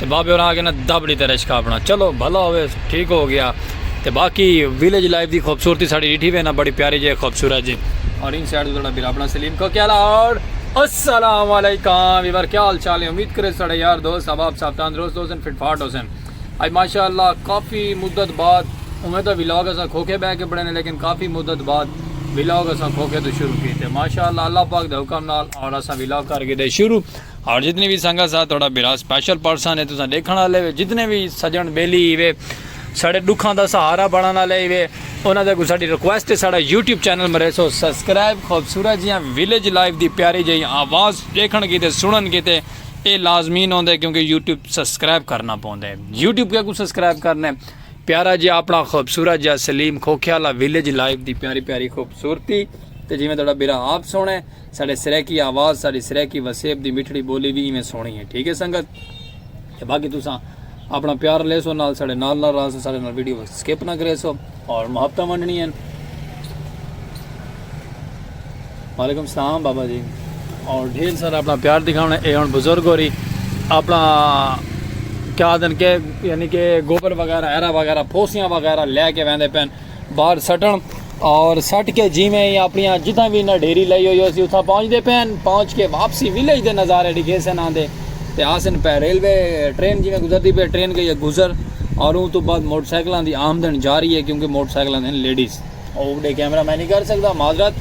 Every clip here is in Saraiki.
تے بابے ہوراں آکھیا نا دب ڈیتا رشکہ اپنا چلو بھلا ہووے ٹھیک ہو گیا تے باقی ویلیج لائف دی خوبصورتی ساڈی ڈیٹھی وے نا بڑی پیاری جے خوبصورت جے اور ان سائیڈ تساڈا بھرا اپنا سلیم کو کیا لاڑ السلام علیکم ویور کیا حال چال ہیں امید کرے ساڈے یار دوست احباب صاحب تندرست ہو سن فٹ فاٹ ہو سن اج ماشاءاللہ کافی مدت بعد اوویں تاں ولاگ اساں کھوکھے بہ کے بنانے لیکن کافی مدت بعد ولاگ اساں کھوکھے تو شروع کیتے ماشاءاللہ اللہ پاک دے حکم نال اور اساں ولاگ کر کے دے شروع اور جتنی وی سنگت سا تہاڈا بھرا سپیشل پرسن ہے تساں ڈیکھن والے وے جتنے وی سجن بیلی ہیوے ساڈے ڈکھاں دا سہارا بنن والے ہیوے انہاں دے اگوں ساڈی ریکویسٹ ہے ساڈا یوٹیوب چینل مریسو سبسکرائب خوبصورت جیاں ویلیج لائف دی پیاری جئی آواز ڈیکھن کیتے سنن کیتے اے لازمین ہوندے کیونکہ یوٹیوب سبسکرائب کرنا پوندے یوٹیوب کے کو سبسکرائب کرنے پیارا جی اپنا خوبصورت جا سلیم کھوکھے والا ویلیج لائف دی پیاری پیاری خوبصورتی تے جویں تہاڈا بیرا آپ سونے ساڈے سرائیکی آواز ساڈی سرائیکی وسیب دی مٹھڑی بولی وی ایویں سوہنی ہے ٹھیک ہے سنگت تے باقی تساں اپنا پیار لیسو نال ساڈے نال نال راہسو ساڈے نال ویڈیو سکپ نہ کریسو اور محبتاں ونڈنی ہیں وعلیکم السلام بابا جی اور ڈھیر سارا اپنا پیار دکھاونا اے ہن بزرگ ہو رہی اپنا کیا دن کے یعنی کہ گوبر وغیرہ ایرا وغیرہ پھوسیاں وغیرہ لے کے ویندے پین باہر سٹن اور سٹ کے جی میں ہی اپنی جتنا بھی انہیں ڈھیری لائی ہوئی اسی اتنا پہنچ دے پین پہنچ کے واپسی ویلیج دے نظارے ڈکھے سے نہ دے تے آسن پہ ریلوے ٹرین جی میں گزر دی پہ ٹرین گئی ہے گزر اور ان تو بعد موٹر سائیکلوں دی آمدن جا رہی ہے کیونکہ موٹر سائیکلوں دین لیڈیز اور اپنے کیمرہ میں نہیں کر سکتا معذرت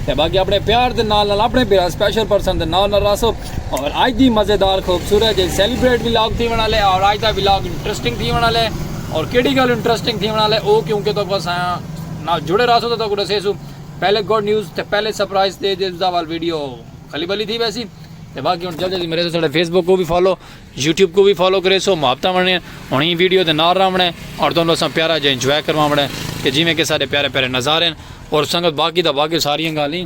تے باقی اپنے پیار دے نال نال اپنے پیار سپیشل پرسن دے نال نال راسو اور آج دی مزیدار خوبصورت جی سیلیبریٹ ولاگ تھی ونا لے اور آج دا ولاگ انٹرسٹنگ تھی ونا لے اور کیڑی گل انٹرسٹنگ تھی ونا لے او کیونکہ تو کو سایاں نال جڑے رہا سو تو تو کو دسے سو پہلے گڈ نیوز تے پہلے سرپرائز تے جس دا وال ویڈیو خلی بلی تھی ویسی تے باقی ہن جلدی جلدی میرے ساڈے فیس بک کو بھی فالو یوٹیوب کو بھی فالو کرے سو محبتہ ونے ہن ہی ویڈیو دے نال راہ ونے اور توں اساں پیارا جے انجوائے کروا ونے کہ جویں کہ سارے پیارے پیارے نظارے اور سنگت باقی دا باقی ساری گالیں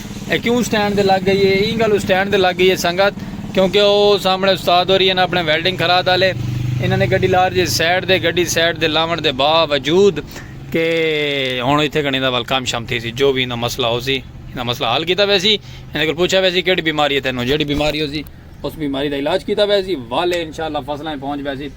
اے کیوں سٹینڈ دے لگ گئی ہے ایں گل سٹینڈ دے لگ گئی ہے سنگت کیونکہ او سامنے استاد ہوری ہیں اپنے ویلڈنگ خراد والے انہاں نے گڈی لار جی سائڈ دے گڈی سائڈ دے لاون دے باوجود کہ ہن ایتھے گھنی دا ول کام شام تھی سی جو بھی انہاں مسئلہ ہو سی انہاں مسئلہ حل کیتا ویسی انہاں کول پوچھا ویسی کیڑی بیماری ہے تینوں جیڑی بیماری ہو سی اس بیماری دا علاج کیتا ویسی والے انشاءاللہ فصلاں پہنچ ویسی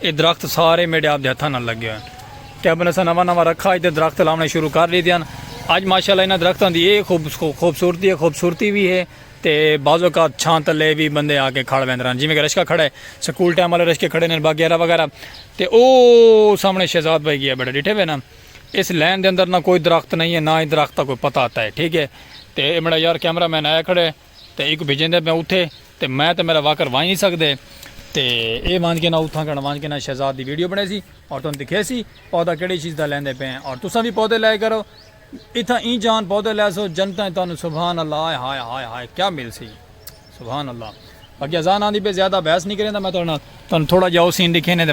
اے درخت سارے میڈے آپ دے ہتھاں نال لگے ہوئے ہن تے ابن اساں نواں نواں رکھا اچ تے درخت لاونے شروع کر ڈیتے ہن اج ماشاءاللہ انہاں درختاں دی اے خوبصورتی ہے خوبصورتی وی ہے تے بعض اوقات چھاں تلے وی بندے آکے کھڑ ویندے ہن جیویں کہ رشکہ کھڑا ہے سکول ٹائم والے رشکے کھڑے ہن وغیرہ وغیرہ تے او سامنے شہزاد بھائی گیا بیٹھا ڈیٹھے ہوئے نا اس لین دے اندر نہ کوئی درخت نہیں ہے نہ ہی درخت دا کوئی پتہ آتا ہے ٹھیک ہے تے اے میڈا یار کیمرہ مین آیا کھڑا ہے تے ایکوں بھیجیندے پیاں اتھے تے میں تے میڈا واکر ونج نی سکدے تے اے ونج کے نا اتھاں کن ونج کے نا شہزاد دی ویڈیو بنڑیسی اور تن دکھیسی پودا کیڑی چیز دا لیندے پے ہیں اور تساں وی پودے لے کرو اتھاں ایں جان پودے لیسو جنتاں اچ تانوں سبحان اللہ ہائے ہائے ہائے ہائے کیا ملسی سبحان اللہ باقی اذان آندی پے زیادہ بحث نی کریندا میں تہاڈے نال تانوں تھوڑا جا او سین دکھینے تے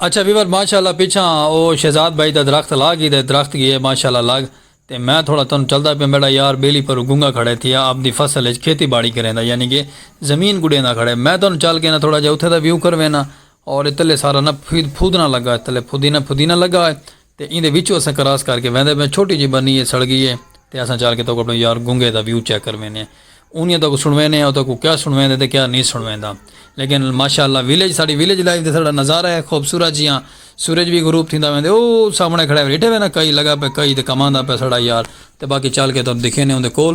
اچھا ویور ماشاءاللہ پیچھا او شہزاد بھائی دا درخت لا گئی دے درخت گئے ماشاءاللہ لگ تے میں تھوڑا تن چلدا پہ میڈا یار بیلی پر گنگا کھڑے تھی آپ دی فصل اچ کھیتی باڑی کریں دا یعنی کہ زمین گڑیں دا کھڑے میں تن چل کے نا تھوڑا جا اتھے دا ویو کر وینا اور اتلے سارا نا پھودنا لگا اتلے پھودینا پھودینا لگا ہے تے ایندے وچوں اساں کراس کر کے ویندے پیاں چھوٹی جئی بنی اے سڑ گئی اے تے اساں چل کے تہاکوں اپݨے یار گنگے دا ویو چیک کر ویندے اونیاں تہاکوں سݨویندے او تہاکوں کیا سݨویندے تے کیا نی سݨویندا لیکن ماشاء اللہ ویلیج ساݙی ویلیج لائف دا ساݙا نظارہ اے خوبصورت جیہاں سورج وی غروب تھیندا ویندے او سامݨے کھڑا ڈیٹھے وے نا کئی لگا پئے کئی تے کماندا پئے ساݙا یار تے باقی چل کے تہاکوں ݙکھیندے اوندے کول۔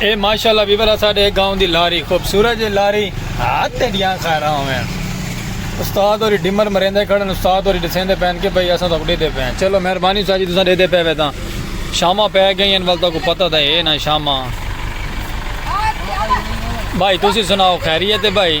اے ماشاءاللہ ویورا ساڈے گاؤں دی لاری خوبصورت جی لاری ہاتھ تے دیاں خیراں ہوئیں استاد اور ڈمر مریندے کھڑن استاد اور دسیندے پین کہ بھائی اساں تک ڈیدے پین چلو مہربانی استاد جی تساں ڈیدے پے وے تاں شامہ پے گئی ہیں ولتا کو پتہ تھا اے نا شامہ بھائی تسی سناؤ خیریت ہے بھائی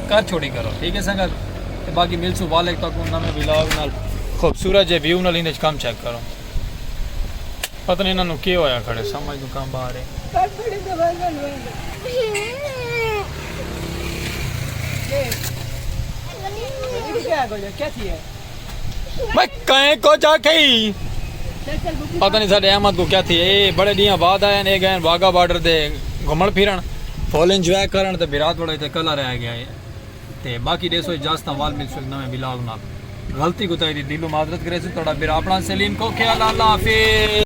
کر چھوڑی کرو ٹھیک ہے سنگت تے باقی ملسو والک تک انہاں میں ویلاگ نال خوبصورت جے ویو نال انج کم چیک کرو پتہ نہیں انہاں نو کی ہویا کھڑے سمجھ نو کم باہر ہے کیا تھی ہے میں کہیں کو جا کے ہی پتہ نہیں ساڑھے احمد کو کیا تھی اے بڑے دیاں بعد آئے ہیں اے گئے ہیں واگا بارڈر دے گھمڑ پھیرن فول انجوائے کرن تے بیرات بڑے تے کلہ رہ گیا ہے تے باقی دے سو اجازتہ وال مل سو ایک نوے بلاغ نال غلطی کو تائی دی دلو معذرت کرے سو توڑا بیرا اپنا سیلین کو کیا اللہ اللہ حافظ